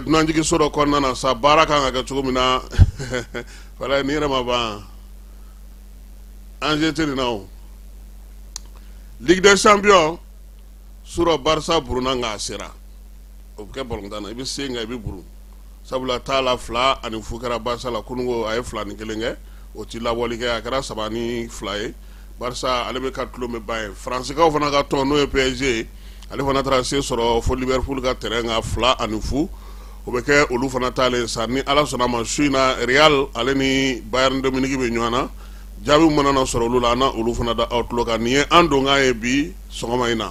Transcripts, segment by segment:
dunanjigin sɔrɔ kɔnɔna na sa baara kan ka kɛ cogo min na wala ni yɛrɛ ma ban anz teri na o Ligue des Champions surɔ barisa burunna nka a sera o bɛ kɛ balɔntan na i bɛ se nka i bɛ buru sabula taa la fila ani fu kɛra barisa la kunungo a ye fila ni kelen kɛ o tɛ labɔli kɛ a kɛra saba ni fila ye barisa ale bɛ ka tulon min ba ye Faransikaw fana ka tɔn n'o ye PSG, ale fana taara se sɔrɔ fo Liverpool ka terrain kan 2 ani fu, o bɛ kɛ olu fana taalen sa, ni Ala sɔnna a ma su in na Real ale ni Bayern de Munich bɛ ɲɔgɔn na, jaabi min mana na sɔrɔ olu la, an na olu fana da aw tulo kan. Nin ye an donkan ye bi sɔgɔma in na.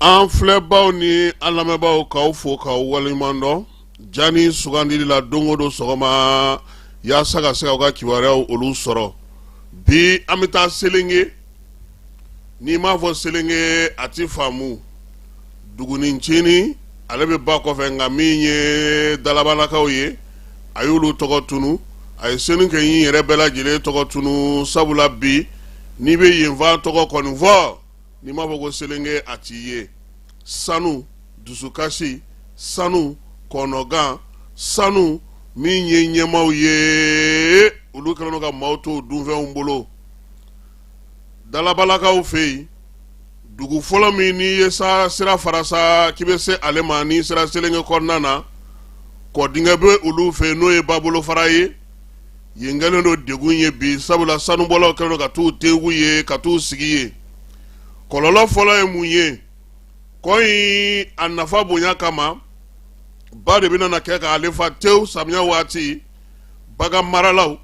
an filɛbaw ni an lamɛnbaaw k'aw fo k'aw waleɲuman dɔn ja ni sugandili la don o don sɔgɔma yaasa ka se k'aw ka kibaruyaw olu sɔrɔ bi an bɛ taa selenge n'i m'a fɔ selenge a ti faamu dugunin ncinin ale bɛ ba kɔfɛ nka min ye dalabalakaw ye a y'olu tɔgɔ tunu a ye selenkɛɲi yɛrɛ bɛɛ lajɛlen tɔgɔ tunu sabula bi n'i bɛ yenfan tɔgɔ kɔni fɔ n'i m'a fɔ ko selenge a t'i ye sanu dusukasi sanu kɔnɔgan sanu min ye ɲɛmaaw ye olu kɛlen ka maaw to dunfɛnw bolo dalabalakaw fɛ yen dugu fɔlɔ min n'i ye sa sira fara sa k'i bɛ se ale ma n'i sera selenge kɔnɔna na kɔdingɛ bɛ olu fɛ n'o ye ba bolofara ye yen kɛlen don degun ye bi sabula sanubɔlaw kɛlen don ka t'u tegu yen ka t'u sigi yen kɔlɔlɔ fɔlɔ ye mun ye kɔ in a nafa bonya kama ba de bɛna na kɛ k'ale fa tewu samiya waati baganmaralaw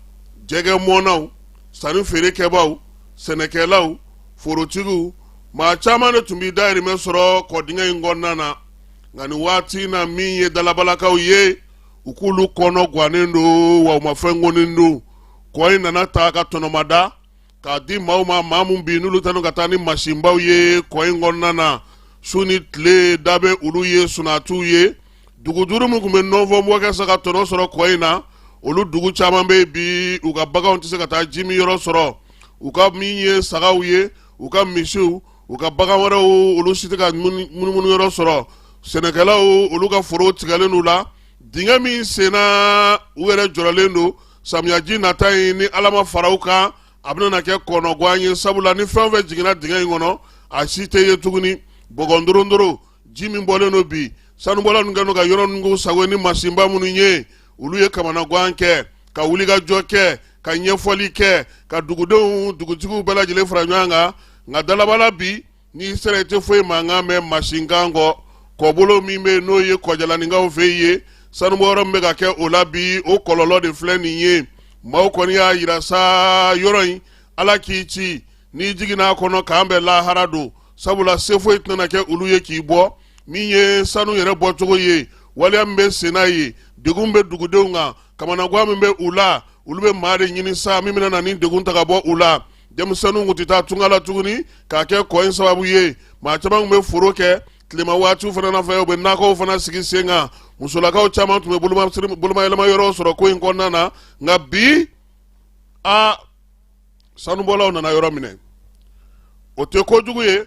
jɛgɛmɔnnaw sannifeerekɛbaaw sɛnɛkɛlaw forotigiw maa caman de tun bɛ dayirimɛ sɔrɔ kɔdingɛ in kɔnɔna na nka nin waati in na min ye dalabalakaw ye u k'olu kɔnɔ gannen don wa u ma fɛn kɔni dɔn kɔ in nana ta ka tɔnɔmada k'a di maaw ma maa min bi n'olu tanu ka taa ni masinbaw ye kɔ in kɔnɔna na su ni tile da bɛ olu ye sunatiw ye dugu duuru min tun bɛ nɔnfɔnbɔ kɛ sa ka tɔnɔ sɔrɔ kɔ in na olu dugu caman bɛ bi u ka baganw tɛ se ka taa jiminyɔrɔ sɔrɔ u ka min ye sagaw ye u ka misiw u ka bagan wɛrɛw olu si tɛ ka munumunu yɔrɔ sɔrɔ sɛnɛkɛlaw olu ka foro tigɛlen u la dingɛ min senna u yɛrɛ jɔrɔlen don samiyaji nata in ni ala ma fara u kan a bɛna kɛ kɔnɔgan ye sabula ni fɛn o fɛn jiginna dingɛ in kɔnɔ a si tɛ ye tuguni bɔgɔndorondoro ji min bɔlen don bi sanubɔla ninnu kɛlen don ka yɔrɔ ninnu sɔgɔ ni masinba minnu ye olu ye kamanagan kɛ ka wulikajɔ kɛ ka ɲɛfɔli kɛ ka dugudenw dugutigiw bɛɛ lajɛlen fara ɲɔgɔn kan nka dalabala bi n'i sera i tɛ foyi mankan mɛn masinkan kɔ kɔbolo min bɛ n'o ye kɔjalaninkaw fɛ ye sanubɔyɔrɔ min bɛ ka kɛ o la bi o kɔlɔlɔ de filɛ nin ye maaw kɔni y'a yira sa yɔrɔ in ala k'i kisi n'i jiginna a kɔnɔ k'an bɛɛ lahara don sabula se foyi tɛna kɛ olu ye k'i bɔ min ye sanu yɛrɛ bɔcogo ye waleya min bɛ senna ye degun min bɛ dugudenw kan kamanagan min bɛ u la olu bɛ maa de ɲini sa min bɛna na nin degun ta ka bɔ u la denmisɛnninw tun tɛ taa tunga la tuguni k'a kɛ kɔ in sababu ye maa caman tun bɛ foro kɛ tilema waatiw fana na fɛ u bɛ nakɔw fana sigi sen kan musolakaw caman tun bɛ bolomayɛlɛma yɔrɔ sɔrɔ ko in kɔnɔna na nka bi a sanubɔlaw nana yɔrɔ minɛ o tɛ ko jugu ye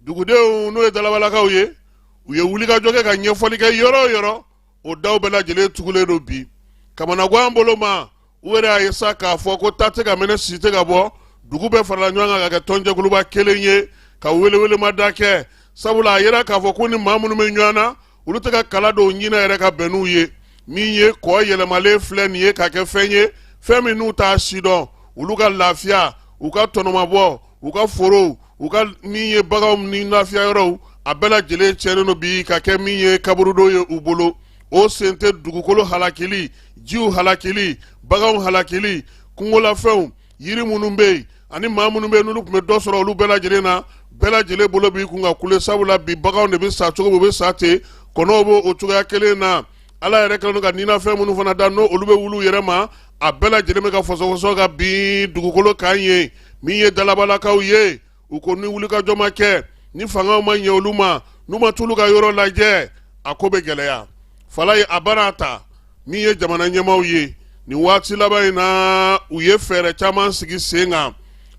dugudenw n'o ye dalabalakaw ye u ye wulikajɔ kɛ ka ɲɛfɔli kɛ yɔrɔ o yɔrɔ o daw bɛɛ lajɛlen tugulen don bi kamanagan bolo ma u yɛrɛ y'a ye sa k'a fɔ ko ta tɛ ka mɛnɛ sisi tɛ ka bɔ dugu bɛɛ farala ɲɔgɔn kan ka kɛ tɔnjɛkuluba kelen ye ka welewelemada kɛ sabula a yera k'a fɔ ko ni maa minnu bɛ ɲɔgɔn na olu tɛ ka kala dɔw ɲinɛ yɛrɛ ka bɛn n'u ye min ye kɔ yɛlɛmalen filɛ nin ye ka kɛ fɛn ye fɛn min n'u t'a sidɔn olu ka lafiya u ka tɔnɔmabɔ u ka forow u ka min ye baganw ni lafiya yɔrɔw a bɛɛ lajɛlen tiɲɛnen don bi ka kɛ min ye kaburudo ye u bolo o sen tɛ dugukolo halakili jiw halakili baganw halakili kungolafɛnw yiri minnu bɛ yen ani maa minnu bɛ yen n'olu tun bɛ dɔ sɔrɔ olu bɛɛ lajɛlen a bɛɛ lajɛlen bolo b'i kun ka kule sabula bi baganw de bɛ sa cogo min u bɛ sa ten kɔnɔw bɛ o cogoya kelen na ala yɛrɛ kɛlen don ka ninafɛn minnu fana da n'olu bɛ olu yɛrɛ ma a bɛɛ lajɛlen bɛ ka fɔsɔfɔsɔ ka bin dugukolo kan yen min ye dalabalakaw ye u ko ni wulikajɔ ma kɛ ni fangaw ma ɲɛ olu ma n'u ma t'olu ka yɔrɔ lajɛ a ko bɛ gɛlɛya falaye an bɛna a ta min ye jamana ɲɛmaaw ye nin waati laban in na u ye fɛɛrɛ caman sigi sen kan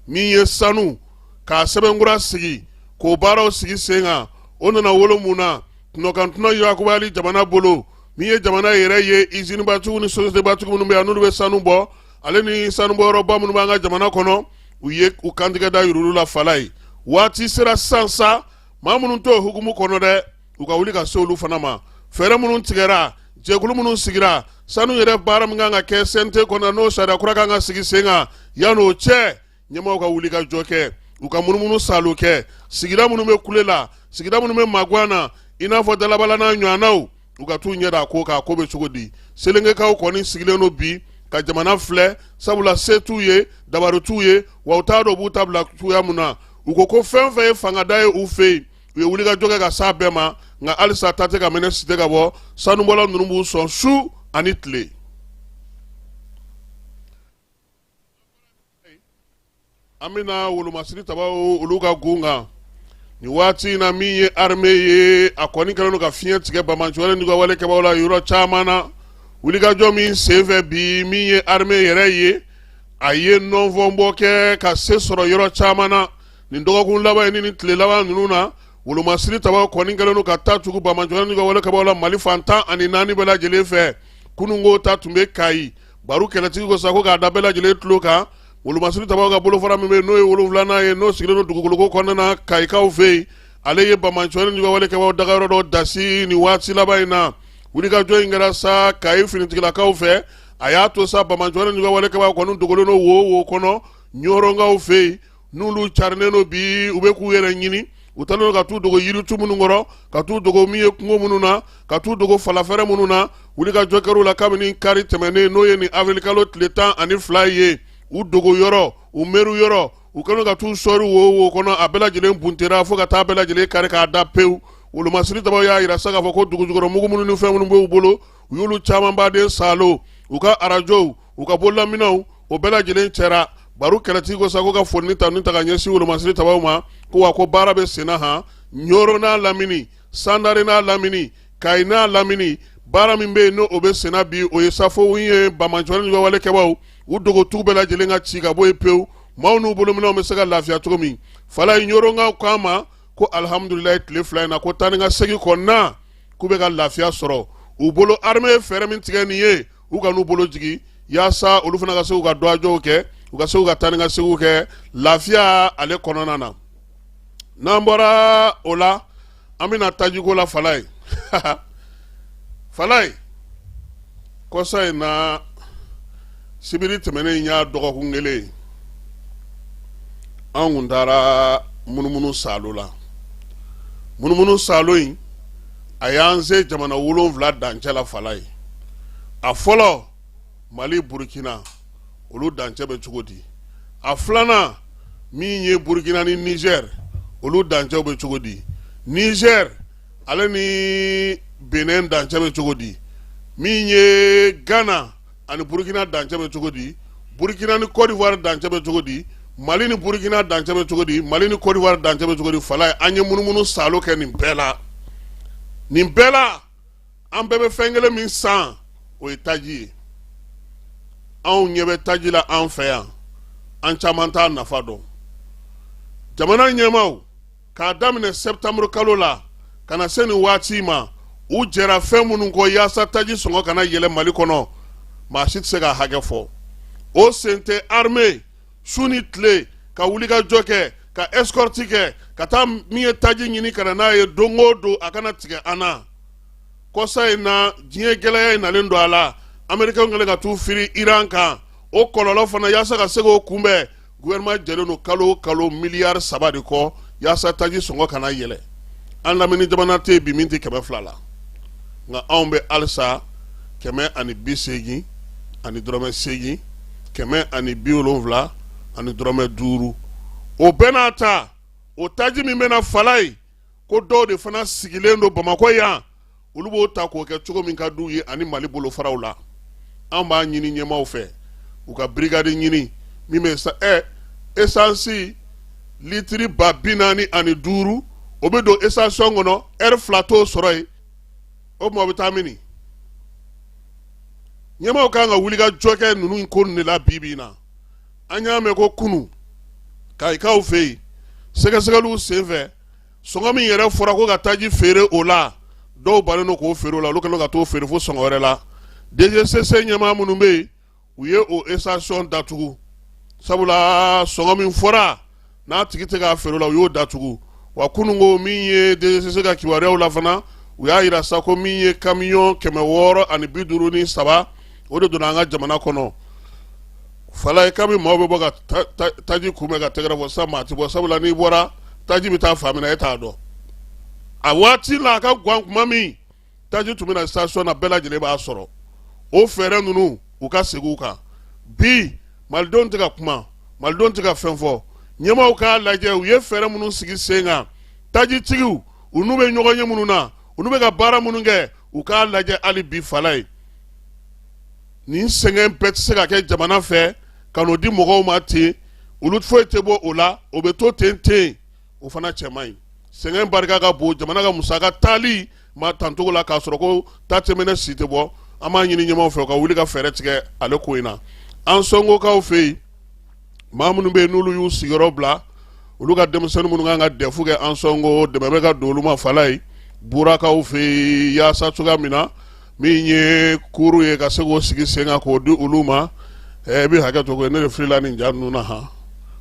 min ye sanu k'a sɛbɛnkura sigi k'o baaraw sigi sen kan o nana wolo mun na tunɔkantuna yakubayali jamana bolo min ye jamana yɛrɛ ye izinibatigiw ni sosiyetebatigiw minnu bɛ yan n'olu bɛ sanu bɔ ale ni sanubɔyɔrɔba minnu b'an ka jamana kɔnɔ u ye u kantigɛ da yir'olu la falaye waati sera sisan sa maa minnu t'o hukumu kɔnɔ dɛ u ka wuli ka se olu fana ma fɛɛrɛ minnu tigɛra jɛkulu minnu sigira sanu yɛrɛ baara min kan ka kɛ CNT kɔnɔ n'o sariya kura kan ka sigi sen kan yan'o cɛ ɲɛmɔgɔw ka wulikajɔ kɛ u ka munumunu salo kɛ sigida minnu bɛ kule la sigida minnu bɛ maguan na i n'a fɔ dalabala n'a ɲɔgɔnnaw u ka t'u ɲɛ da ko kan ko bɛ cogo di selenkekaw kɔni sigilen don bi ka jamana filɛ sabula se t'u ye dabari t'u ye wa u t'a dɔn u b'u ta bila cogoya min na u ko ko fɛn fɛn ye fangada ye u fɛ yen u ye wulikajɔ kɛ ka s'a bɛɛ ma nka halisa ta tɛ ka mɛnɛ sisi tɛ ka bɔ sanubɔla ninnu b'u sɔn su ani tile an bɛna wolomasiri tabaw olu ka gun kan nin waati in na min ye armée ye a kɔni kɛlen don ka fiɲɛ tigɛ banbaantɔ ni juguya wale kɛbaaw la yɔrɔ caman na wulikajɔ min senfɛ bi min ye armée yɛrɛ ye a ye nɔnfɔnbɔ kɛ ka se sɔrɔ yɔrɔ caman na nin dɔgɔkun laban in ni nin tile laban ninnu na wolomasiri tabaw kɔni kɛlen don ka taa tugu banbaantɔ ni juguya wale kɛbaaw la mali fan tan ani naani bɛɛ lajɛlen fɛ kununko ta tun bɛ kayi baro kɛlɛtigi ko sa ko k'a da bɛɛ lajɛlen tulo kan wolomasiri tabaw ka bolofara min bɛ n'o ye wolonfilanan ye n'o sigilen don dugukoloko kɔnɔna na kayikaw fɛ yen ale ye banbaantɔ ni juguya wale kɛbaaw dagayɔrɔ dɔ dasi nin waati laban in na wulikajɔ in kɛra sa kayi finitigilakaw fɛ a y'a to sa banbaantɔ ni juguya wale kɛbaaw kɔni dogolen don wo wo kɔnɔ ɲɔrɔnkaw fɛ yen n'olu carinnen don bi u bɛ k'u yɛrɛ ɲini u taalen don ka t'u dogo yiritu minnu kɔrɔ ka t'u dogo min ye kungo minnu na ka t'u dogo falafɛrɛ minnu na wulikajɔ kɛr'u la kabini kari tɛmɛnen n'o ye nin avril-kalo tile tan ani fila ye u dogo yɔrɔ u mɛru yɔrɔ u kɛlen ka t'u sɔri wo wo kɔnɔ a bɛɛ lajɛlen buntera fo ka taa bɛɛ lajɛlen kari k'a da pewu wolomasiri tabaw y'a yira sa k'a fɔ ko dugujukɔrɔmugu minnu ni fɛn minnu b'u bolo u y'olu caman baden salo u ka arajow u ka bololaminɛnw o bɛɛ lajɛlen cɛra baro kɛlɛtigi ko sa ko ka foli ta ka ɲɛsin wolomasiri tabaw ma ko wa ko baara bɛ senna han ɲɔrɔn n'a lamini sandare n'a lamini kayi n'a lamini baara min bɛ yen n'o bɛ senna bi o ye safo ye banbaantɔ ni juguya wale kɛbaaw u dogotu bɛɛ lajɛlen ka ci ka bɔ yen pewu maaw n'u bolominɛnw bɛ se ka lafiya cogo min falaye ɲɔrɔnkaw k'a ma ko alihamudulilayi tile fila in na ko taa ni ka segin kɔnɔna k'u bɛ ka lafiya sɔrɔ u bolo armée ye fɛɛrɛ min tigɛ nin ye u kan'u bolo jigin yaasa olu fana ka se k'u ka dɔgɔjɔw kɛ u ka se k'u ka taa ni ka seginw kɛ lafiya ale kɔnɔna na n'an bɔra o la an bɛna tajiko la falaye falaye kɔsa in na sibiri tɛmɛnen in y'a dɔgɔkun kelen ye an kun taara munumunu salo la munumunu salo in a y'an se jamana wolonfila dancɛ la falaye a fɔlɔ mali burukina olu dancɛ bɛ cogo di a filanan min ye burukina ni nizɛri olu dancɛw bɛ cogo di nizɛri ale ni benin dancɛ bɛ cogo di min ye gana ani burukina dancɛ bɛ cogo di burukina ni kɔdiwari dancɛ bɛ cogo di mali ni burukina dancɛ bɛ cogo di mali ni kɔdiwari dancɛ bɛ cogo di falaye an ye munumunu saalo kɛ nin bɛɛ la nin bɛɛ la an bɛɛ bɛ fɛn kelen min san o ye taji ye anw ɲɛ bɛ taji la an fɛ yan an caman t'a nafa dɔn jamana ɲɛmaaw k'a daminɛ sɛtanburu kalo la ka na se nin waati ma u jɛra fɛn minnu kɔ yaasa taji sɔngɔ kana yɛlɛ mali kɔnɔ maa si tɛ se k'a hakɛ fɔ o sen tɛ arme su ni tile ka wulikajɔ kɛ ka escorte kɛ ka taa min ye taji ɲini ka na n'a ye don o don a kana tigɛ an na kɔsa in na diɲɛ gɛlɛya in nalen don a la amerikɛnw kɛlen ka t'u firi iran kan o kɔlɔlɔ fana yaasa ka se k'o kunbɛn gouvernement jɛlen don kalo o kalo miliyari saba de kɔ yaasa taji sɔngɔ kana yɛlɛ an lamini jamana tɛ bi min tɛ kɛmɛ fila la nka anw bɛ halisa kɛmɛ ani bi seegin ani dɔrɔmɛ seegin kɛmɛ ani bi wolonwula ani dɔrɔmɛ duuru o bɛɛ n'a ta o taji min bɛ na falaye ko dɔw de fana sigilen don bamakɔ yan olu b'o ta k'o kɛ cogo min ka d'u ye ani mali bolofaraw la an b'a ɲini ɲɛmaw fɛ u ka brigade ɲini min bɛ sa ɛ esansi litiri ba bi naani ani duuru o bɛ don station kɔnɔ ɛri fila t'o sɔrɔ yen o tuma o bɛ taa mini ɲɛmaw kan ka wulikajɔ kɛ ninnu ko nin de la bi bi in na an y'a mɛn ko kunun kayikaw fɛ yen sɛgɛsɛgɛliw senfɛ sɔngɔ min yɛrɛ fɔra ko ka taji feere o la dɔw bannen don k'o feere o la olu kɛlen ka t'o feere fo sɔngɔ wɛrɛ la dgcc ɲɛmaa minnu bɛ yen u ye o station datugu sabula sɔngɔ min fɔra n'a tigi tɛ k'a feere o la u y'o datugu wa kunun ko min ye dgcc ka kibaruyaw la fana u y'a yira sa ko min ye kamiyɔn kɛmɛ wɔɔrɔ ani bi duuru ni saba o de donna an ka jamana kɔnɔ falaye kami maaw bɛ bɔ ka taji kunbɛn ka tɛgɛrɛ fɔ sa maa ti bɔ sabula n'i bɔra taji bɛ taa fan min na e t'a dɔn a waati la a ka gwan kuma min taji tun bɛ na station na bɛɛ lajɛlen b'a sɔrɔ o fɛɛrɛ ninnu u ka segin u kan bi malidenw tɛ ka kuma malidenw tɛ ka fɛn fɔ ɲɛmaaw k'a lajɛ u ye fɛɛrɛ minnu sigi sen kan tajitigiw u n'u bɛ ɲɔgɔnye minnu na u n'u bɛ ka baara minnu kɛ u k'a lajɛ hali bi falaye nin sɛgɛn bɛɛ tɛ se ka kɛ jamana fɛ ka n'o di mɔgɔw ma ten olu foyi tɛ bɔ o la o bɛ to ten ten o fana cɛ man ɲi sɛgɛn barika ka bon jamana ka musaka taali ma tan cogo la k'a sɔrɔ ko ta tɛmɛnɛ si tɛ bɔ an b'a ɲini ɲɛmaw fɛ u ka wuli ka fɛɛrɛ tigɛ ale ko in na ansɔngokaw fɛ yen maa minnu bɛ yen n'olu y'u sigiyɔrɔ bila olu ka denmisɛnnin minnu kan ka dɛfu kɛ ansɔngo dɛmɛ bɛ ka don olu ma falaye burakaw fɛ yen yaasa cogoya min na min ye kuru ye ka se k'o sigi sen kan k'o di olu ma ɛ i bɛ hakɛ to ko ne de filila nin ja ninnu na han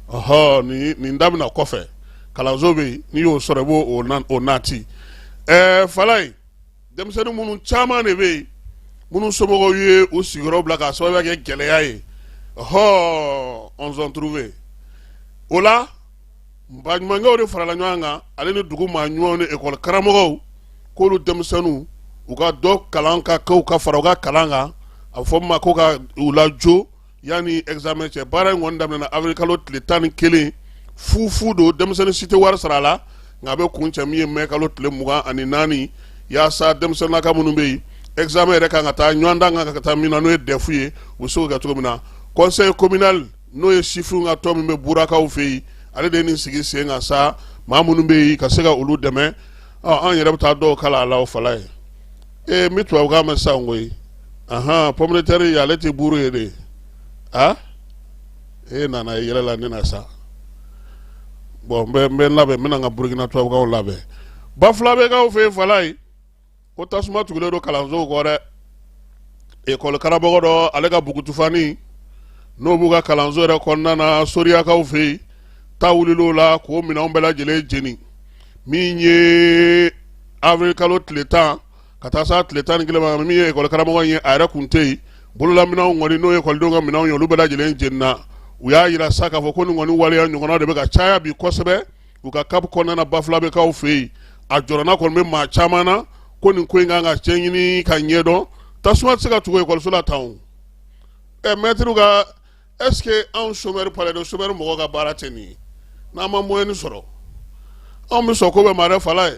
ɔhɔ nin nin daminɛ kɔfɛ kalanso bɛ yen n'i y'o sɔrɔ i b'o nati ɛɛ fala ye denmisɛnnin minnu caman de bɛ yen minnu somɔgɔw ye u sigiyɔrɔ bila k'a sababuya kɛ gɛlɛya ye ɔhɔ on s'en trouve o la baɲumankɛw de farala ɲɔgɔn kan ale ni dugu maa ɲumanw ni ekɔli karamɔgɔw k'olu denmisɛnninw u ka dɔ kalan ka kɛ ka fara u ka kalan kan a bɛ fɔ min ma ko ka u lajo yanni examen cɛ baara in kɔni daminɛna avril kalo tile tan ni kelen fu fu don denmisɛnnin si tɛ wari sara a la nka a bɛ kuncɛ min ye mɛ kalo tile mugan ani naani yaasa denmisɛnninlaka minnu bɛ yen examen yɛrɛ kan ka taa ɲɔgɔndan kan ka taa min na n'o ye dɛfu ye u bɛ se k'o kɛ cogo min na conseil communal n'o ye sifinw ka tɔn min bɛ burakaw fɛ yen ale de ye nin sigi sen kan sa maa minnu bɛ yen ka se ka olu dɛmɛ an yɛrɛ bɛ taa dɔw kalan a la o fala ye ee n bɛ tubabukan mɛn sisan koyi ahan pomme de terre ye ale tɛ buru ye de a e nana yɛlɛ la ne na sa bon n bɛ n bɛ labɛn n bɛna n ka burukina tubabukanw labɛn bafulabekaw fɛ yen fala ye ko tasuma tugulen don kalansow kɔ dɛ ekɔli karamɔgɔ dɔ ale ka bugutufani n'o b'u ka kalanso yɛrɛ kɔnɔna na soriyakaw fɛ yen ta wulil'o la k'o minɛnw bɛɛ lajɛlen jeni min ye avril kalo tile tan ka taa se tile tan ni kelen ma min ye ekɔli karamɔgɔ in ye a yɛrɛ kun tɛ yen bololaminɛnw kɔni n'o ye ekɔlidenw ka minɛnw ye olu bɛɛ lajɛlen jenina u y'a yira sa k'a fɔ ko nin kɔni waleya ɲɔgɔnna de bɛ ka caya bi kosɛbɛ u ka CAP kɔnɔna na bafulabekaw fɛ yen a jɔrɔna kɔni bɛ maa caman na ko nin ko in kan ka cɛ ɲini ka ɲɛdɔn tasuma tɛ se ka tugu ekɔliso la tan ɛ mɛtiriw ka est-ce que anw somɛri palais don somɛri mɔgɔw ka baara tɛ nin ye n'an ma moyen sɔrɔ anw bɛ sɔn ko bɛɛ ma dɛ fala ye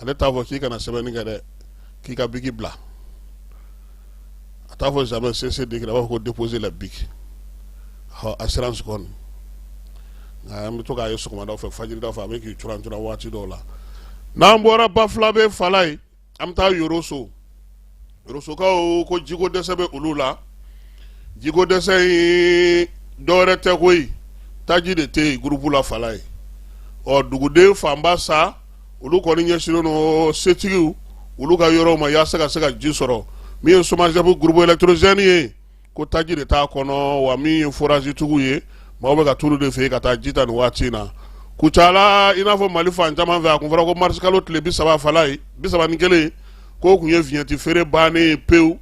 ale t'a fɔ k'i kana sɛbɛnni kɛ dɛ k'i ka biki bila a t'a fɔ jamais cessez d'écrire a b'a fɔ ko déposer la bic ɔ assurance kɔni nka an bɛ to k'a ye sɔgɔmadaw fɛ fajiridaw fɛ a bɛ k'i curan curan waati dɔw la n'an bɔra bafulabe fala ye an bɛ taa yoroso Sokaw ko jiko dɛsɛ bɛ olu la jiko dɛsɛ in dɔwɛrɛ tɛ koyi taji de tɛ yen groupe la fala ye ɔ duguden fanba sa olu kɔni ɲɛsinnen don setigiw olu ka yɔrɔ ma yaasa ka se ka ji sɔrɔ min ye SOMAGEP groupe électrogène ye ko taji de t'a kɔnɔ wa min ye forazitigiw ye maaw bɛ ka t'olu de fɛ yen ka taa ji ta nin waati in na kucala i n'a fɔ mali fan caman fɛ a kun fɔra ko marisikalo tile bi saba fala ye bi saba ni kelen k'o kun ye viɲɛti feere bannen ye pewu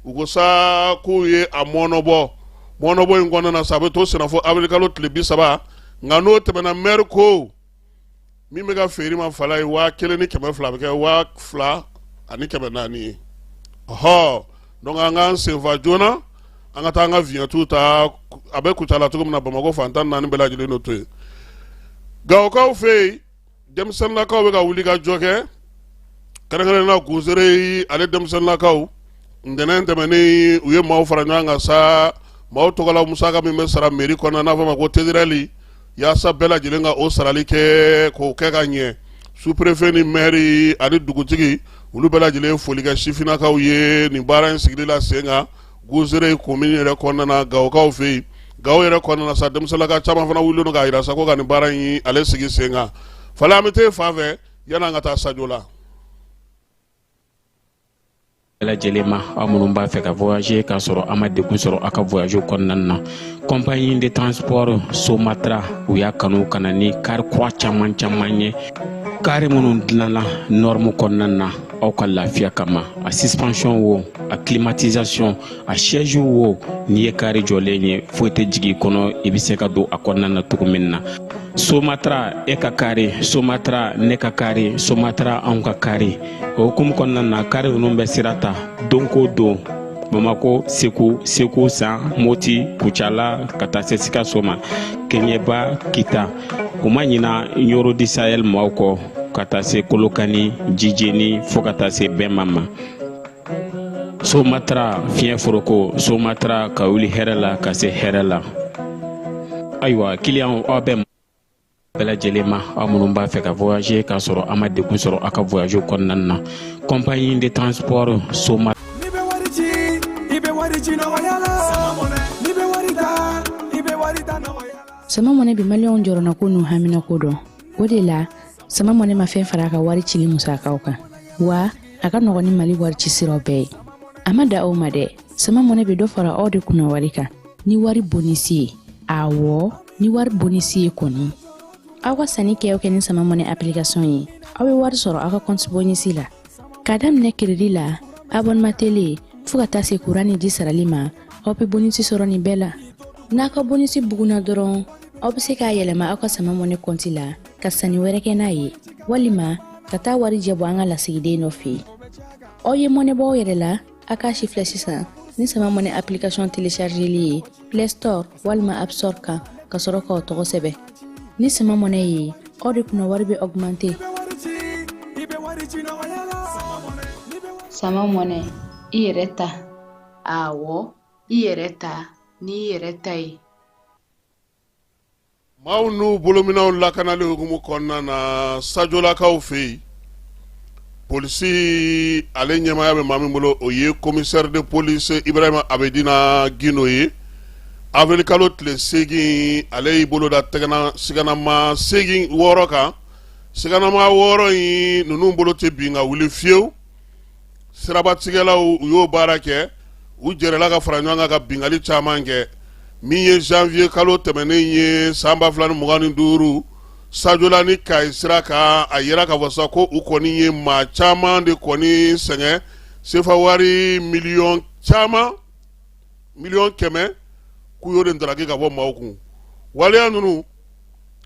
u ko sa k'u ye a mɔnɔbɔ mɔnɔbɔ in kɔnɔna na sa a bɛ to senna fo abirikalo tile bi saba nka n'o tɛmɛna mɛri ko min bɛ ka feere ma fala ye waa kelen ni kɛmɛ fila bɛ kɛ waa fila ani kɛmɛ naani ye ɔhɔ donc an k'an senfa joona an ka taa an ka viɲɛtu ta a bɛ kucala cogo min na bamakɔ fan tan ni naani bɛɛ lajɛlen n'o to yen gawokaw fɛ yen denmisɛnninlakaw bɛ ka wuli ka jɔ kɛ kɛrɛnkɛrɛnnenya na gozere ale denmisɛnninlakaw ntɛnɛn tɛmɛnen u ye maaw fara ɲɔgɔn kan sa maaw tɔgɔla musaka min bɛ sara mɛri kɔnɔ n'a fɔ ma ko tederɛli yaasa bɛɛ lajɛlen ka o sarali kɛ k'o kɛ ka ɲɛ superefe ni mɛri ani dugutigi olu bɛɛ lajɛlen ye foli kɛ sifinnakaw ye nin baara in sigili la sen kan gozere komin yɛrɛ kɔnɔna na gawokaw fɛ yen gawo yɛrɛ kɔnɔna na sa denmisɛnninlaka caman fana wulilen don k'a jira sa ko ka nin baara in ale sigi sen kan falen an bɛ taa fan fɛ yan'an ka taa sajo la lajɛlen ma aw minnu b'a fɛ ka voyager k'a sɔrɔ a ma degun sɔrɔ a ka voyage kɔnɔna na compagnie de transport somatra u y'a kanu ka na ni kari kura caman caman ye kari minnu dilanna nɔrmu kɔnɔna na aw ka lafiya kama a suspension wo a climatisation a siège wo n'i ye kari jɔlen ye foyi tɛ jigin kɔnɔ i bɛ se ka don a kɔnɔna na cogo min na somatra e ka kari somatra ne ka kari somatra anw ka kari o hukumu kɔnɔna na kari ninnu bɛ sira ta don ko don bamakɔ segu segu san moti kucala ka taa se sikaso ma keɲɛba kita u ma ɲina ɲɔrɔ di sahɛl maaw kɔ ka taa se kolokani jijeni fɔɔ ka taa se bɛma ma somatara fiɲɛ foroko somatara ka wuli hɛrɛ la ka se hɛrɛ la ayiwa kiliyanw aw bɛɛ bɛɛ lajɛlen ma aw minnu b'a fɛ ka voyager k'a sɔrɔ a ma degun sɔrɔ a ka voyage kɔnɔna na compagnie de transport soma n'i bɛ wari ci i bɛ wari ci nɔgɔya la n'i bɛ wari ta i bɛ wari ta nɔgɔya la sama mɔnɛ bi maliyɛnw jɔrɔnako n'u haminako dɔn o de la sama mɔnɛ ma fɛn fara a ka wari cili musakaw kan wa a ka nɔgɔn ni mali wari ci siraw bɛɛ ye a ma dan o ma dɛ sama mɔnɛ bɛ dɔ fara aw de kunna wari kan ni wari bonisi ye awɔ ni wari bonisi ye kɔni aw ka sanni kɛ kɛ ni sama mɔnɛ application ye aw bɛ wari sɔrɔ aw ka kɔnti bonisi la k'a daminɛ kiredi la abɔnema tele fɔɔ ka taa se kuran ni ji sarali ma aw bɛ bonisi sɔrɔ nin bɛɛ la n'a ka bonisi bugunna dɔrɔn aw bɛ se k'a yɛlɛma aw ka sama mɔnɛ kɔnti la ka sanni wɛrɛ kɛ n'a ye walima ka taa warijɛ bɔ an ka lasigiden dɔ fɛ yen aw ye mɔnɛ bɔ aw yɛrɛ la a k'a sifilɛ sisan ni sama mɔnɛ application telechargeli ye play store walima app store kan ka sɔrɔ k'aw tɔgɔ sɛbɛn ni sama mɔnɛ ye aw de kunna wari bɛ augmenter sama mɔnɛ i yɛrɛ ta Ɔwɔ i yɛrɛ ta ni i yɛrɛ ta ye maaw n'u bolominɛnw lakanali hukumu kɔnɔna na sajolakaw fɛ yen polisi ale ɲɛmaya bɛ maa min bolo o ye commissaire de police Ibrahima Abedina Guindo ye avril kalo tile seegin ale y'i bolo da sigannamaa seegin wɔɔrɔ kan sigannamaa wɔɔrɔ in ninnu bolo tɛ bin ka wuli fiyewu sirabatigɛlaw u y'o baara kɛ u jɛrɛla ka fara ɲɔgɔn kan ka binkali caman kɛ min ye janvier kalo tɛmɛnen ye san ba fila ni mugan ni duuru sajola ni kayi sira kan a yera ka fɔ sa ko u kɔni ye maa caman de kɔni sɛgɛn sefa wari miliyɔn caman miliyɔn kɛmɛ k'u y'o de ndaraki ka bɔ maaw kun waleya ninnu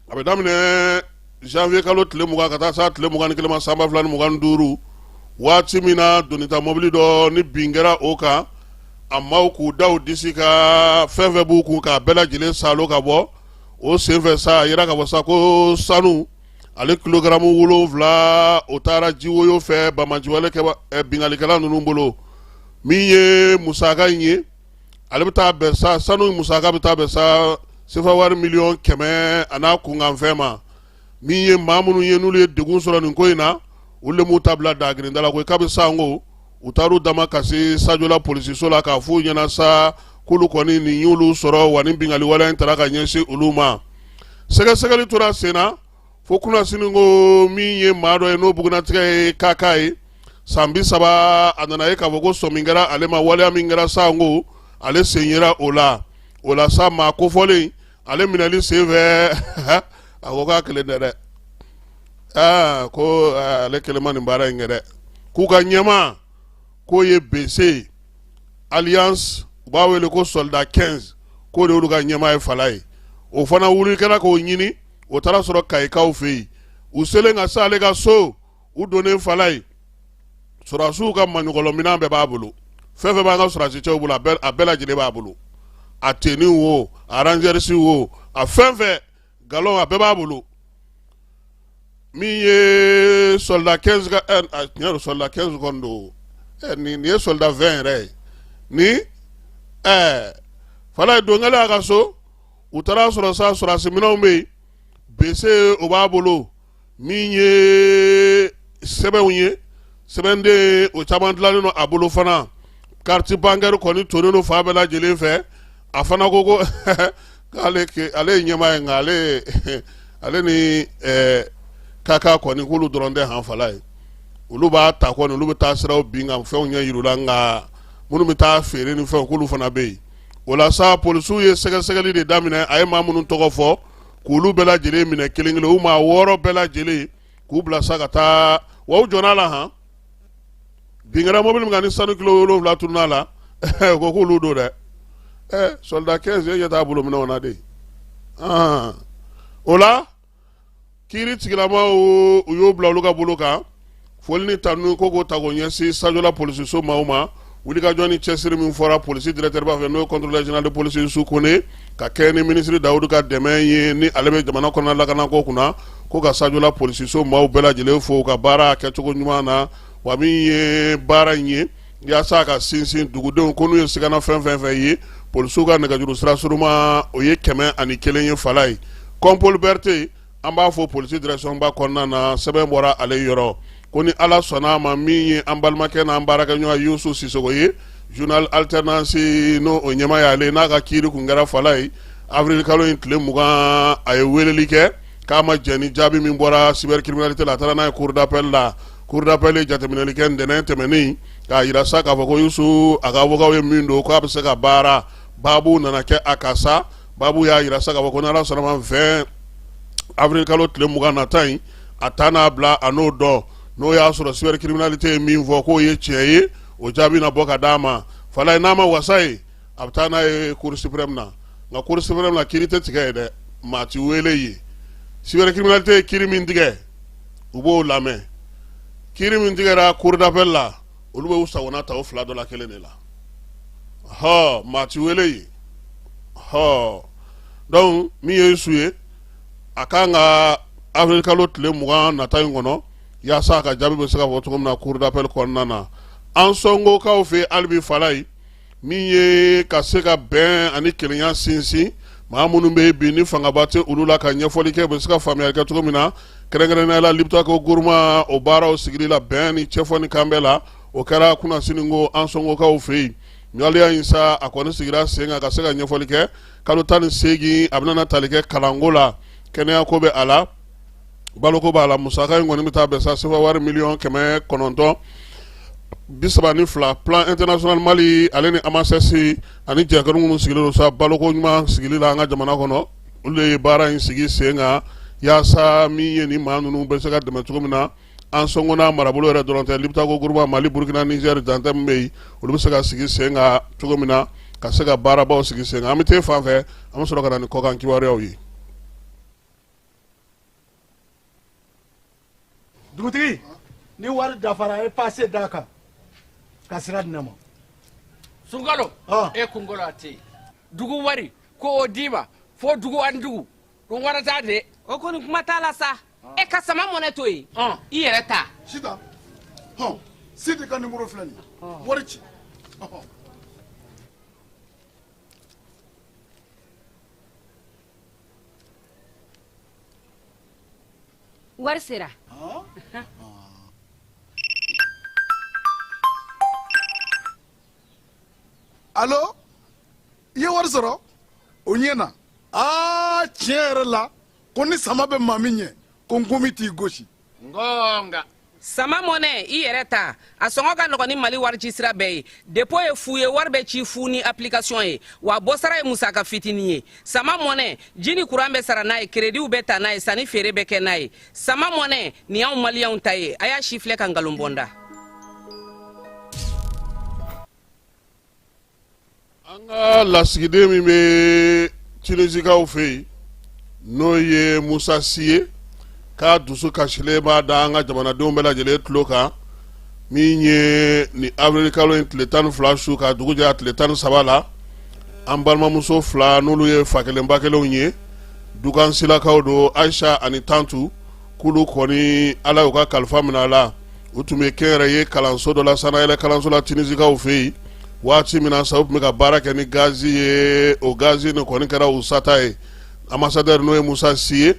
a bɛ daminɛ janvier kalo tile mugan ka taa se a tile mugan ni kelen ma san ba fila ni mugan ni duuru waati min na donita mɔbili dɔ ni bin kɛra o kan a maaw k'u da u disi ka fɛn fɛn b'u kun k'a bɛɛ lajɛlen saalo ka bɔ o senfɛ sa a yera ka fɔ sa ko sanu ale kilogaramu wolonwula o taara jiwoyo fɛ banbaanciwale kɛ binkalikɛla ninnu bolo min ye musaka in ye ale bɛ taa bɛn sa sanu musaka bɛ taa bɛn sa sefa wari miliyɔn kɛmɛ an'a kunkanfɛn ma min ye maa minnu ye n'olu ye degun sɔrɔ nin ko in na u le m'u ta bila dagirinda la ko k'a bɛ san ko u taar'u damakasi sajola polisiso la k'a f'u ɲɛna sa k'olu kɔni nin y'olu sɔrɔ wa nin binkali waleya in taara ka ɲɛsin olu ma sɛgɛsɛgɛli tora sen na fo kunnasinikɔ min ye maa dɔ ye n'o bugunnatigɛ ye kaka ye san bi saba a nana ye k'a fɔ ko sɔmi min kɛra ale ma waleya min kɛra sanko ale sen yera o la o la sa maa kofɔlen ale minɛli sen fɛ a ko k'a kelen tɛ dɛ aa ko ale kelen ma nin baara in kɛ dɛ k'u ka ɲɛmaa k'o ye bese ye alias u b'a wele ko soldat 15 k'o de y'olu ka ɲɛmaa ye fala ye o fana wuli kɛra k'o ɲini o taara sɔrɔ kayikaw fɛ yen u selen ka s'ale ka so u donnen fala ye sɔrɔdasiw ka maɲɔgɔlɔminɛn bɛɛ b'a bolo fɛn fɛn b'an ka sɔrɔdasicɛw bolo a bɛɛ lajɛlen b'a bolo a tenue wo a rangers wo a fɛn fɛn galon a bɛɛ b'a bolo min ye soldat 15 ka ɛ a tiɲɛ don soldat 15 kɔni don ɛ nin nin ye soldat 20 yɛrɛ ye ni ɛɛ fala ye don kɛla y'a ka so. u taara sɔrɔ sa sɔrɔdasiminɛnw bɛ yen bese o b'a bolo min ye sɛbɛnw ye sɛbɛnden o caman dilannen don a bolo fana kariti bankɛri kɔni tonnen don fan bɛɛ lajɛlen fɛ a fana ko ko k'ale ale ye ɲɛmaa ye nka ale ale ni ɛɛ kaka kɔni k'olu dɔrɔn tɛ han fala ye olu b'a ta kɔni olu bɛ taa siraw bin ka fɛnw ɲɛ yir'u la nka minnu bɛ taa feere ni fɛnw k'olu fana bɛ yen o la sa polisiw ye sɛgɛsɛgɛli de daminɛ a ye maa minnu tɔgɔ fɔ k'olu bɛɛ lajɛlen minɛ kelen kelen u maa wɔɔrɔ bɛɛ lajɛlen k'u bila sa ka taa wa u jɔnn'a la han binkɛra mobili min kan ni sanu kilo wolonwula tununn'a la u ko k'olu don dɛ ɛ sɔlida 15 ye ɲɛ t'a bolo minɛnw na de o la kiiri tigilamaaw u y'o bila olu ka bolo kan foli ni tanu ko k'o ta k'o ɲɛsin sajola polisiso maaw ma wulikajɔ ni cɛsiri min fɔra polisi directeurba fɛ n'o ye contrôleur général de police yusu kone ka kɛ ni minisiri dawudu ka dɛmɛ ye ni ale bɛ jamana kɔnɔna lakanako kunna ko ka sajola polisiso maaw bɛɛ lajɛlen fo u ka baara kɛcogo ɲuman na wa min ye baara in ye yaasa a ka sinsin dugudenw ko n'u ye sigana fɛn fɛn fɛ ye polisiw ka nɛgɛjuru sira surunman o ye kɛmɛ ani kelen ye fala ye compol berete an b'a fɔ polisi directionba kɔnɔna na sɛbɛn bɔra ale yɔrɔ ko ni ala sɔnna a ma min ye an balimakɛ n'an baarakɛɲɔgɔn yusu sisogo ye journal alternance n'o o ɲɛmaa y'ale n'a ka kiiri kun kɛra fala ye avril kalo in tile mugan a ye weleli kɛ k'a ma jɛn ni jaabi min bɔra cybercriminalité la a taara n'a ye cour d'appel la cour d'appel ye jateminɛli kɛ ntɛnɛn tɛmɛnen k'a yira sa k'a fɔ ko yusu a ka awokaw ye min don k'a bɛ se ka baara baabu nana kɛ a ka sa baabu y'a yira sa k'a fɔ ko n'ala sɔnn'a ma vingt avril kalo tile mugan nata in a taa n'a bila a n'o dɔn n'o y'a sɔrɔ cybercriminalité ye min fɔ k'o ye tiɲɛ ye o jaabi na bɔ ka d'a ma fala ye n'a ma wasa ye a bɛ taa n'a ye cour suprême na nka cour suprême na kiiri tɛ tigɛ yen dɛ maa ti wele yen cybercriminalité ye kiiri min tigɛ u b'o lamɛn kiiri min tigɛra cour d'appel la olu b'u sagona ta o fila dɔ la kelen de la hɔ maa ti wele yen hɔ donc min ye yusu ye a kan ka avril kalo tile mugan nata in kɔnɔ yaasa a ka jaabi bɛ se ka fɔ cogo min na cour d'appel kɔnɔna na an sɔngokaw fɛ hali bi fala ye min ye ka se ka bɛn ani kelenya sinsin maa minnu bɛ bi ni fangaba tɛ olu la ka ɲɛfɔli kɛ u bɛ se ka faamuyali kɛ cogo min na kɛrɛnkɛrɛnnenya la liptako gourma o baaraw sigili la bɛn ni cɛfɔ ni kanbɛn la o kɛra kunasini ko an sɔngokaw fɛ yen waleya in sa a kɔni sigira sen kan ka se ka ɲɛfɔli kɛ kalo tan ni seegin a bɛna tali kɛ kalanko la kɛnɛyako bɛ a la baloko b'a la musaka in kɔni bɛ taa bɛn sa sefa wari miliyɔn kɛmɛ kɔnɔntɔn bi saba ni fila plan international mali ale ni amasɛsi ani jɛkulu minnu sigilen don sa baloko ɲuman sigili la an ka jamana kɔnɔ olu ye baara in sigi sen kan yaasa min ye ni maa ninnu bɛ se ka dɛmɛ cogo min na ansɔngo n'a marabolo yɛrɛ dɔrɔn tɛ liptako gurma mali burukina nizɛri dancɛ min bɛ yen olu bɛ se ka sigi sen kan cogo min na ka se ka baarabaw sigi sen kan an bɛ taa fan fɛ an bɛ sɔrɔ ka na ni kɔkan kibaruyaw ye dugutigi ni wari dafara e pase d'a kan ka sira di ne ma sunkalo e kunkolo a tɛ yen dugu wari ko o d'i ma fo dugu ani dugu dun wari t'a de o kɔni kuma t'a la sa e ka sama mɔnɛ to yen i yɛrɛ ta sita hɔn sidi ka nimoro filɛ nin ye wari ci wari sera alo i ye wari sɔrɔ o ɲɛna aa tiɲɛ yɛrɛ la ko ni sama bɛ maa min ɲɛ ko nkomi t'i gosi ngɔɔnga sama mɔnɛ i yɛrɛ ta a sɔngɔ ka nɔgɔn ni mali warici sira bɛɛ ye depo ye fu ye wari bɛ ci fu ni application ye wa bɔsara ye musaka fitinin ye sama mɔnɛ ji ni kuran bɛ sara n'a ye kerediw bɛ ta n'a ye sanni feere bɛ kɛ n'a ye sama mɔnɛ nin y'anw maliyɛnw ta ye a y'a sifilɛ ka nkalon bɔ n da an ka lasigiden min bɛ tinisikaw fɛ yen n'o ye musa si ye k'a dusukasilen b'a da an ka jamanadenw bɛɛ lajɛlen tulo kan min ye ni awirilikalo in tile tan ni fila su ka dugu jɛ a tile tan ni saba la an balimamuso fila n'olu ye fa kelen ba kelenw ye dukansilakaw don ayisa ani tantu k'olu kɔni ala y'u ka kalifa minɛ a la u tun bɛ kɛnyɛrɛye kalanso dɔ la sannayɛlɛn kalanso la tinisikaw fɛ yen waati min na sa u tun bɛ ka baara kɛ ni gazi ye o gazi nin kɔni kɛra u sata ye anbasadɛri n'o ye musa si ye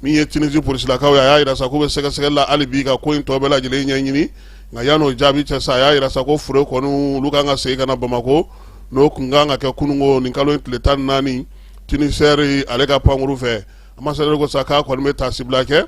min ye tinisi polisilakaw ye a y'a jira sa k'u bɛ sɛgɛsɛgɛli la hali bi ka ko in tɔ bɛɛ lajɛlen ɲɛɲini nka yan'o jaabi cɛ sa a y'a jira sa ko fure kɔni olu kan ka segin ka na bamakɔ n'o tun kan ka kɛ kunun ko nin kalo in tile tan ni naani tinisɛri ale ka pankuru fɛ anbasadɛri ko sa k'a kɔni bɛ tasibila kɛ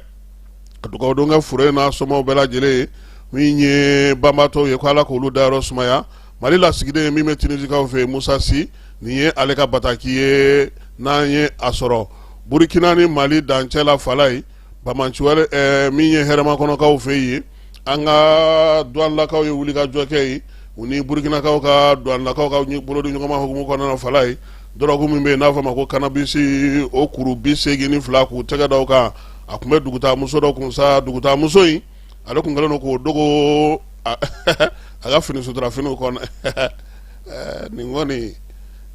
ka dugawudon kɛ fure n'a somaw bɛɛ lajɛlen ye min ye banbatɔw ye ko ala k'olu dayɔrɔ sumaya mali lasigiden min bɛ tinisikaw fɛ musa si nin ye ale ka bataki ye n'an ye a sɔrɔ burukina ni mali dancɛ la fan na yen banbaanci wale min ye hɛrɛmakɔnɔkaw fɛ yen an ka duwanlakaw ye wulikajɔ kɛ yen u ni burukinakaw ka duwanlakaw ka bolo di ɲɔgɔnma hukumu kɔnɔna fala ye dɔrɔku min bɛ yen n'a fɔ ma ko kanabisi o kuru bi seegin ni fila k'u tɛgɛ daw kan a tun bɛ dugutaa muso dɔ kun sa dugutaa muso in ale kun kɛlen don k'o dogo a ka fini sutura finiw kɔnɔ eh, nin kɔni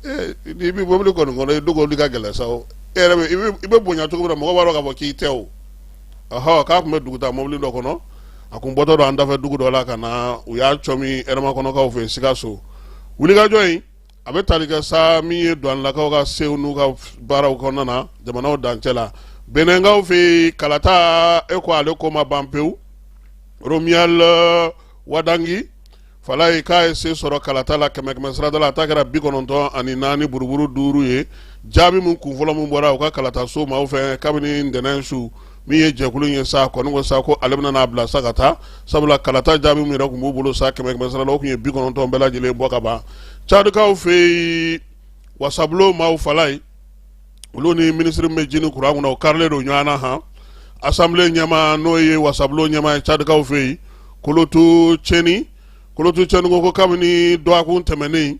eh, n'i bɛ mobili kɔni kɔnɔ i dogoli ka gɛlɛn sa o e yɛrɛ bɛ i bɛ bonya cogo min na mɔgɔ b'a dɔn k'a fɔ k'i tɛ o ɔhɔ k'a tun bɛ dugutaa mobili dɔ kɔnɔ a kun bɔtɔ don an dafɛ dugu dɔ la ka na u y'a cɔmi hɛrɛmakɔnɔkaw fɛ sikaso wulikajɔ in a bɛ tali kɛ sa min ye duwanlakaw ka sew n'u ka baaraw kɔnɔna na jamanaw dancɛ la benenkaw fɛ kalata e ko ale ko ma ban pewu romiyal wadangi fala ye k'a ye se sɔrɔ kalata la kɛmɛ kɛmɛ sirada la a ta kɛra bi kɔnɔntɔn ani naani buruburu duuru ye jaabi min kun fɔlɔ min bɔra u ka kalata so maaw fɛ kabini ntɛnɛn su min ye jɛkulu ye sa kɔni ko sa ko ale bɛna n'a bila sa ka taa sabula kalata jaabi min yɛrɛ kun b'u bolo sa kɛmɛ kɛmɛ sirada o kun ye bi kɔnɔntɔn bɛɛ lajɛlen bɔ ka ban cadikaw fɛ yen wasabulon maaw fala ye olu ni minisiri min bɛ ji ni kuran kunna o karilen don ɲɔgɔn na han asanbile ɲɛmaa n'o ye wasabulon ɲɛmaa ye cadikaw fɛ yen kolotu cɛni kolotu cɛni ko ko kabini dɔgɔkun tɛmɛnen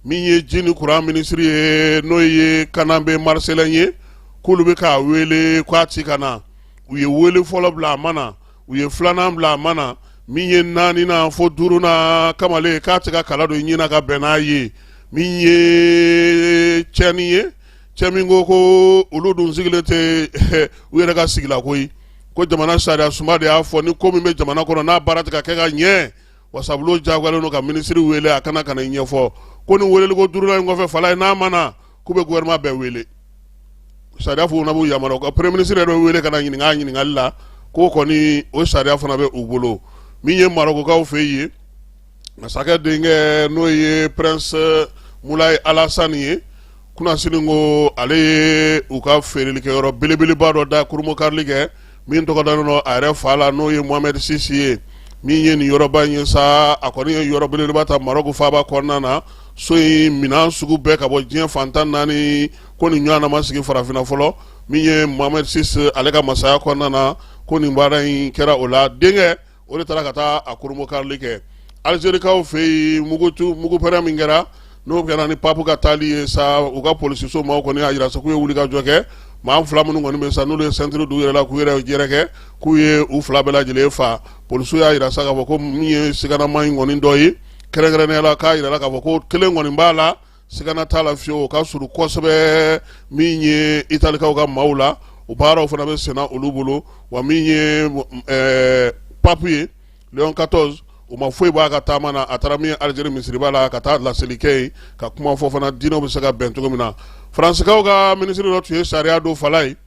min ye ji ni kuran minisiri ye n'o ye kanabe mariselɛn ye k'olu bɛ k'a wele k'a ti ka na u ye wele fɔlɔ bila a ma na u ye filanan bila a ma na min ye naaninan fo duurunan kamalen k'a tɛ ka kala don ɲin na ka bɛn n'a ye min ye cɛni ye cɛ min ko ko olu dun sigilen tɛ u yɛrɛ ka sigi la koyi ko jamana sariyasunba de y'a fɔ ni ko min bɛ jamana kɔnɔ n'a baara tɛ ka kɛ ka ɲɛ wasabulon jagoyalen don ka minisiri weele a ka na ka n'a ɲɛfɔ ko ni weeleli ko duurunan in kɔfɛ fala ye n'a ma na k'u bɛ gɔfɛrɛnaman bɛɛ weele sariya fana b'u yamaruya ka premier minisiri yɛrɛ weele ka na ɲininkali la k'o kɔni o sariya fana bɛ u bolo min ye marokokaw fɛ yen ye masakɛ denkɛ n'o ye prince mulayi alasani ye kunasini ko ale ye u ka feerelikɛyɔrɔ belebeleba dɔ da kurunbonkarili kɛ min tɔgɔ dalen don a yɛrɛ fa la n'o ye mohamɛdi sisi ye min ye nin yɔrɔba in ye sa a kɔni ye yɔrɔ belebeleba ta marɔku faaba kɔnɔna na so in minan sugu bɛɛ ka bɔ diɲɛ fan tan naani ko nin ɲɔgɔnna ma sigi farafinna fɔlɔ min ye mohamɛdi sisi ale ka masaya kɔnɔna na ko nin baara in kɛra o la denkɛ o de taara ka taa a kurunbonkarili kɛ alizerikaw fɛ yen mugu mugupɛrɛn min kɛra n'o kɛra ni papu ka taali ye sa u ka polisiso maaw kɔni y'a jira sa k'u ye wulikajɔ kɛ maa fila minnu kɔni bɛ sa n'olu ye sɛntiri d'u yɛrɛ la k'u yɛrɛ yɛrɛkɛ k'u ye u fila bɛɛ lajɛlen faa polisiw y'a jira sa k'a fɔ ko min ye siganamaa in kɔni dɔ ye kɛrɛnkɛrɛnnenya la k'a jirala k'a fɔ ko kelen kɔni b'a la sigana t'a la fiyewu o ka surun kosɛbɛ min ye italikaw ka maaw la o baaraw fana bɛ senna olu bolo wa min ye ɛɛ papu ye leon 14 o ma foyi b'a ka taama na a taara min ye alijeri misiriba la ka taa laseli kɛ yen ka kuma fɔ fana diinɛw bɛ se ka bɛn cogo min na faransikaw ka minisiri dɔ tun ye sariya don fan la yen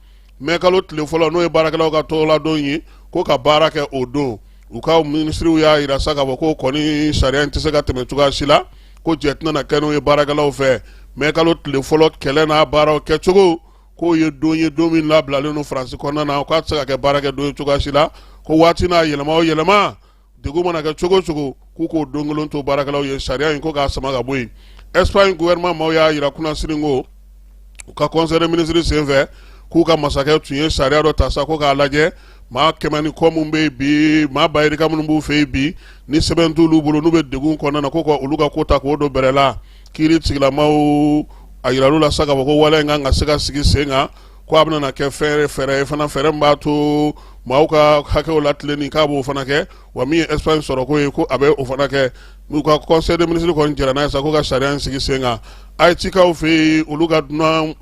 mɛ kalo tile fɔlɔ n'o ye baarakɛlaw ka tɔgɔladon ye ko ka baara kɛ o don u ka minisiriw y'a yira sa k'a fɔ ko kɔni sariya in tɛ se ka tɛmɛ cogoya si la ko jɛ tɛna na kɛ n'o ye baarakɛlaw fɛ mɛ kalo tile fɔlɔ kɛlɛ n'a baaraw kɛcogo k'o ye don ye don min labilalen don faransi kɔnɔna na k'a tɛ se ka kɛ baarakɛ don ye cogoya si la ko waati n'a yɛlɛma o yɛlɛma degun mana kɛ cogo cogo k'u k'o don kelen to baarakɛlaw ye sariya in ko k'a sama ka bɔ yen espagne gouvernement maaw y'a yira kunnasini ko u ka conseil des ministres senfɛ k'u ka masakɛ tun ye sariya dɔ ta sa ko k'a lajɛ maa kɛmɛ ni kɔ minnu bɛ yen bi maa bayirika minnu b'u fɛ yen bi ni sɛbɛn t'olu bolo n'u bɛ degun kɔnɔna na ko ka olu ka ko ta k'o don bɛrɛ la kiiri tigilamaw a yiral'u la sa k'a fɔ ko wale in kan ka se ka sigi sen kan ko a bɛna kɛ fɛɛrɛ fɛɛrɛ ye fana fɛɛrɛ min b'a to maaw ka hakɛw latilenni k'a b'o fana kɛ wa min ye espagne sɔrɔko ye ko a bɛ o fana kɛ n'u ka conseil des ministres kɔni jɛra n'a ye sa ko ka sariya in sigi sen kan ayitikaw fɛ yen olu ka dunan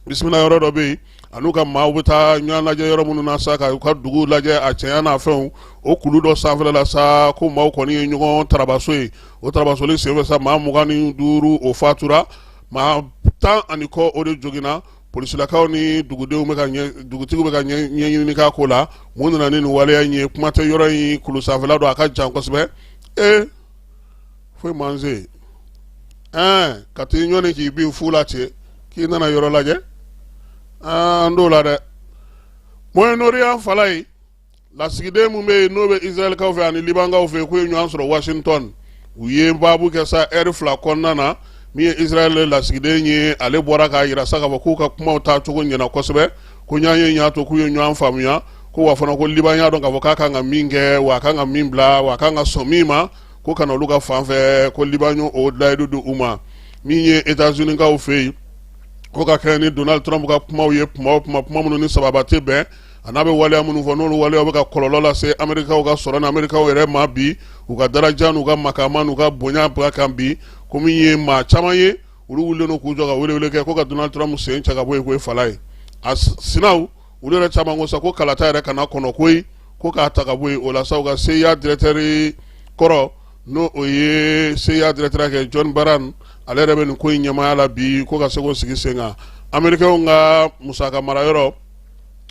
bisimila yɔrɔ dɔ bɛ yen an'u ka maaw bɛ taa ɲɔgɔn lajɛ yɔrɔ minnu na sa ka u ka dugu lajɛ a cɛya n'a fɛnw o kulu dɔ sanfɛla la sa ko maaw kɔni ye ɲɔgɔn tarabaso ye o tarabasoli senfɛ sa maa mugan ni duuru o fatura maa tan ani kɔ o de joginna polisilakaw ni dugudenw bɛ ka dugutigiw bɛ ka ɲɛɲini k'a ko la mun nana ni nin waleya in ye kuma tɛ yɔrɔ in kulu sanfɛla don a ka jan kosɛbɛ ee foyi man se ɛɛ ka t'i ɲɔni k'i bin fu la ten k'i nana yɔrɔ lajɛ an t'o la dɛ moyen orient fan la yen lasigiden min bɛ yen n'o bɛ israɛlkaw fɛ ani libankaw fɛ k'u ye ɲɔgɔn sɔrɔ washington u ye baabu kɛ sa ɛri fila kɔnɔna na min ye israɛl lasigiden ye ale bɔra k'a yira sa k'a fɔ k'u ka kumaw taa cogo ɲɛna kosɛbɛ ko ɲɔgɔnye y'a to k'u ye ɲɔgɔn faamuya ko wa fana ko liban y'a dɔn k'a fɔ k'a kan ka min kɛ wa a kan ka min bila wa a kan ka sɔn min ma ko kana olu ka fan fɛ ko liban y'o layidu di u ma min ye etazunikaw fɛ yen ko ka kɛɲɛ ni donald trump ka kumaw ye kuma o kuma kuma minnu ni sababa tɛ bɛn an'a bɛ waleya minnu fɔ n'olu waleya bɛ ka kɔlɔlɔ lase amerikaw ka sɔrɔ ni amerikaw yɛrɛ ma bi u ka daraja n'u ka makaama n'u ka bonya ba kan bi ko min ye maa caman ye olu wulilen don k'u jɔ ka welewele kɛ ko ka Donald Trump sen cɛ ka bɔ yen ko ye fala ye a sinaw olu yɛrɛ caman ko sa ko kalata yɛrɛ kana kɔnɔ koyi ko k'a ta ka bɔ yen o la sa u ka CIA directeur kɔrɔ n'o o ye CIA directeur kɛ John Brennan ale yɛrɛ bɛ nin ko in ɲɛmaaya la bi ko ka se k'o sigi sen kan amerikɛnw ka musaka marayɔrɔ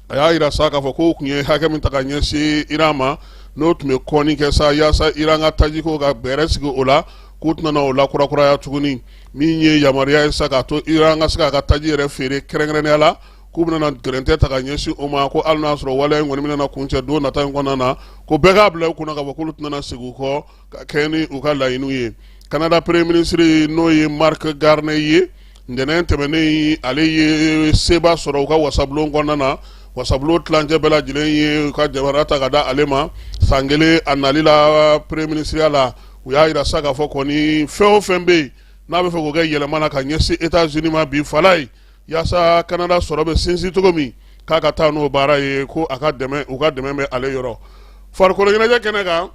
a y'a jira sa k'a fɔ k'u tun ye hakɛ min ta ka ɲɛsin iran ma n'o tun bɛ kɔni kɛ sa yaasa iran ka tajiko ka bɛrɛ sigi o la k'u tɛna o lakurakuraya tuguni min ye yamaruya ye sa k'a to iran ka se k'a ka taji yɛrɛ feere kɛrɛnkɛrɛnnenya la k'u bɛna gɛrɛntɛ ta ka ɲɛsin o ma ko hali n'a sɔrɔ waleya in kɔni bɛna kuncɛ don nata in kɔnɔna na ko bɛɛ k'a bila u kunna k'a fɔ k'olu tɛna segin u kɔ ka kɛ ni u ka laɲiniw ye kanada premier ministre n'o ye Mark Carney ye ntɛnɛn tɛmɛnen ale ye seba sɔrɔ u ka wasabulon kɔnɔna na wasabulon tilancɛ bɛɛ lajɛlen ye u ka jamana ta ka da ale ma san kelen a nali la premier minisiriya la u y'a jira sa k'a fɔ kɔni fɛn o fɛn bɛ yen n'a bɛ fɛ k'o kɛ yɛlɛma na ka ɲɛsin États-Unis ma bi fala ye yaasa kanada sɔrɔ bɛ sinsin cogo min k'a ka taa n'o baara ye ko a ka dɛmɛ u ka dɛmɛ bɛ ale yɔrɔ farikolo ɲɛnajɛ kɛnɛ kan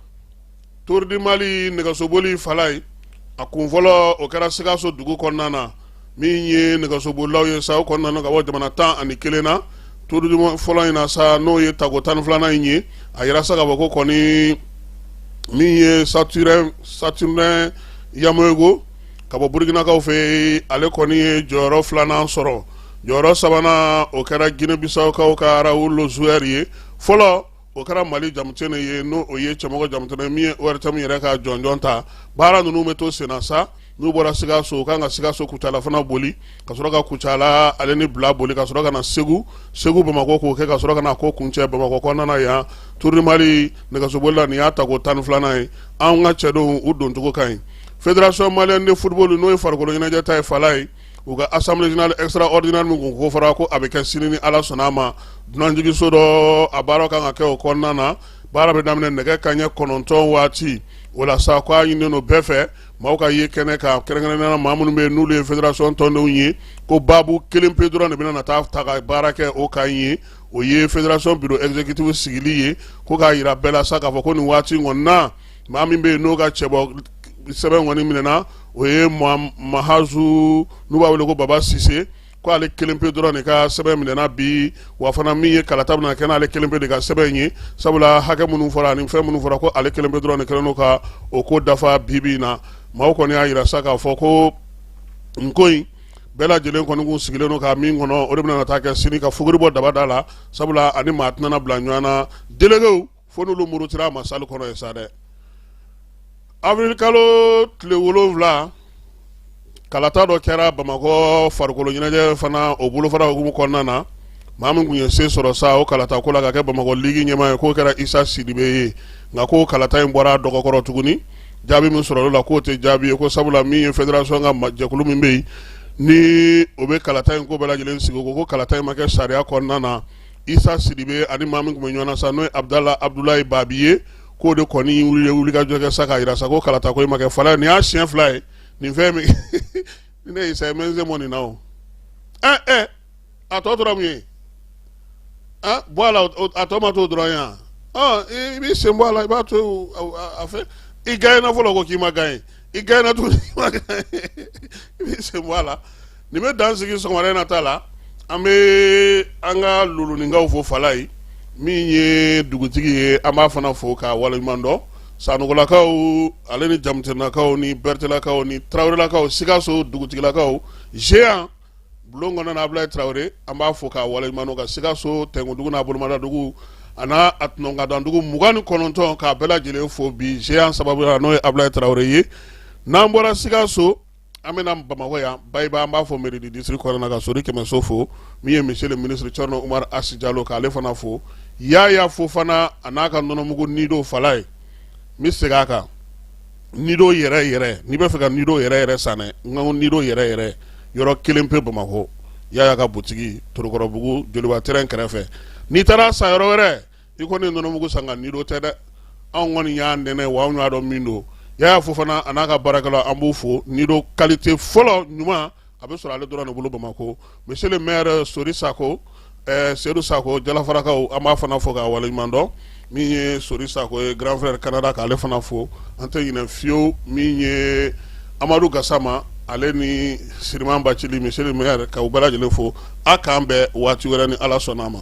Tour du Mali nɛgɛsoboli fala ye a kun fɔlɔ o kɛra sikaso dugu kɔnɔna na min ye nɛgɛsobolilaw ye sa o kɔnɔna na ka bɔ jamana tan ani kelen na Tour du fɔlɔ in na sa n'o ye tako tan ni filanan in ye a yira sa k'a fɔ ko kɔni min ye Saturnin Yaméogo ka bɔ burukinakaw fɛ ale kɔni ye jɔyɔrɔ filanan sɔrɔ jɔyɔrɔ sabanan o kɛra ginebisawukaw ka arawu lozuɛri ye fɔlɔ o kɛra mali jamutene ye n'o o ye cɛmɔgɔ jamutene min ye ORTM yɛrɛ ka jɔnjɔn ta baara ninnu bɛ to senna sa n'u bɔra sikaso u kan ka sikaso kucala fana boli ka sɔrɔ ka kucala ale ni bila boli ka sɔrɔ ka na segu segu bamakɔ k'o kɛ ka sɔrɔ ka na k'o kuncɛ bamakɔ kɔnɔna yan Tour du Mali nɛgɛsoboli la nin y'a tako tan ni filanan ye an ka cɛdenw u doncogo ka ɲi Fédération malienne de football n'o ye farikolo ɲɛnajɛ ta ye fala ye u ka assemblée générale extraordinaire min kun kofɔra ko a bɛ kɛ sini ni Ala sɔnna a ma dunanjigiso dɔ a baara kan ka kɛ o kɔnɔna na baara bɛ daminɛ nɛgɛ kanɲɛ kɔnɔntɔn waati o la sa ko a ɲininen don bɛɛ fɛ maaw ka ye kɛnɛ kan kɛrɛnkɛrɛnnenya la maa minnu bɛ yen n'olu ye fédération tɔndenw ye ko baabu kelen pe dɔrɔn de bɛna na taa ta ka baara kɛ o kan ye o ye fédération bureau exécutif sigili ye ko k'a jira bɛɛ la sa k'a fɔ ko nin waati in kɔni na maa min bɛ yen n'o ka cɛbɔ sɛbɛn kɔni minɛna o ye Mahazou n'u b'a wele ko baba sise ko ale kelen pe dɔrɔn de ka sɛbɛn minɛna bi wa fana min ye kalata bɛna kɛ n'ale kelen pe de ka sɛbɛn in ye sabula hakɛ minnu fɔra ani fɛn minnu fɔra ko ale kelen pe dɔrɔn de selen ka o ko dafa bibi in na maaw kɔni y'a jira sa k'a fɔ ko nin ko in bɛɛ lajɛlen kɔni kun sigilen don ka min kɔnɔ o de bɛna taa kɛ sini ka fuguri bɔ dabada la sabula ani maa tɛna bila ɲɔgɔn na délégués fo n'olu murutira a ma salle kɔnɔ ye sa dɛ avril kalo tile wolonwula kalata dɔ kɛra bamakɔ farikolo ɲɛnajɛ fana o bolofara hukumu kɔnɔna na maa min kun ye se sɔrɔ sa o kalata ko la ka kɛ bamakɔ ligi ɲɛmaa ye k'o kɛra isa sidibe ye nka ko kalata in bɔra dɔgɔkɔrɔ tuguni jaabi min sɔrɔla la k'o tɛ jaabi ye ko sabula min ye federasɔn ka jɛkulu min bɛ yen ni o bɛ kalata in ko bɛɛ lajɛlen sigi ko ko kalata in ma kɛ sariya kɔnɔna na isa sidibe ani maa min kun bɛ ɲɔgɔn na sa n'o ye abudala abudulayi babi ye k'o de kɔni wulikajɔ kɛ sa k'a yira sa ko kalata ko in ma kɛ fala nin y'a siɲɛ fila ye nin fɛn min ni ne isa ye mɛ n se mɔ nin na o ɛ ɛ a tɔ tora mun ye ah bɔ a la a tɔ ma to dɔrɔn yan ɔ i b'i sen bɔ a la i b'a to a fɛ i gaɲɛna fɔlɔ ko k'i ma gaɲɛ i gaɲɛna tuguni i b'i sen bɔ a la nin bɛ dan sigi sɔgɔmada in na ta la an bɛ an ka luluninkaw fo fala ye min ye dugutigi ye an b'a fana fo k'a waleɲuman dɔn sanɔgɔlakaw ale ni jamutenelakaw ni bɛrɛtɛlakaw ni tarawelelakaw sikaso dugutigilakaw géant bulon kɔnɔna Abulayi Tarawele an b'a fo k'a waleɲuman dɔn ka Sikaso Tɛnkuntugu n'a bolomadadugu a n'a a tunɔnkadɔndugu mugan ni kɔnɔntɔn k'a bɛɛ lajɛlen fo bi Géant sababuya la n'o ye Abulayi Tarawele ye n'an bɔra Sikaso an bɛ na Bamakɔ yan Bayiba an b'a fo mairie du district kɔnɔna na ka Sori Kɛmɛso fo min ye monsieur le ministre Cɛrinɔ Umaru Asi Jalo k'ale fana fo Yaya Fofana a n'a ka nɔnɔmugu Nido Fala ye n bɛ segin a kan nido yɛrɛ yɛrɛ n'i b'a fɛ ka nido yɛrɛ yɛrɛ san dɛ nka nido yɛrɛ yɛrɛ yɔrɔ kelen pe bamakɔ yaya ka butigi torokɔrɔbugu joliba terrain kɛrɛfɛ n'i taara san yɔrɔ wɛrɛ i kɔni nɔnɔmugu san nka nido tɛ dɛ anw kɔni y'a nɛnɛ wa anw y'a dɔn min don yaya fofana a n'a ka baarakɛlaw an b'u fo nido qualité fɔlɔ ɲuman a bɛ sɔrɔ ale dɔrɔn de bolo bamakɔ monsieur le maire sori sakɔ seyidu sakɔ jalafarakaw an b'a fana fo k'a waleɲuman dɔn min ye sori sakɔ ye grand frère canada k'ale fana fo an tɛ ɲinɛ fiyewu min ye amadu gasama ale ni siriman bacili monsieur le maire k'u bɛɛ lajɛlen fo a k'an bɛn waati wɛrɛ ni ala sɔnna a ma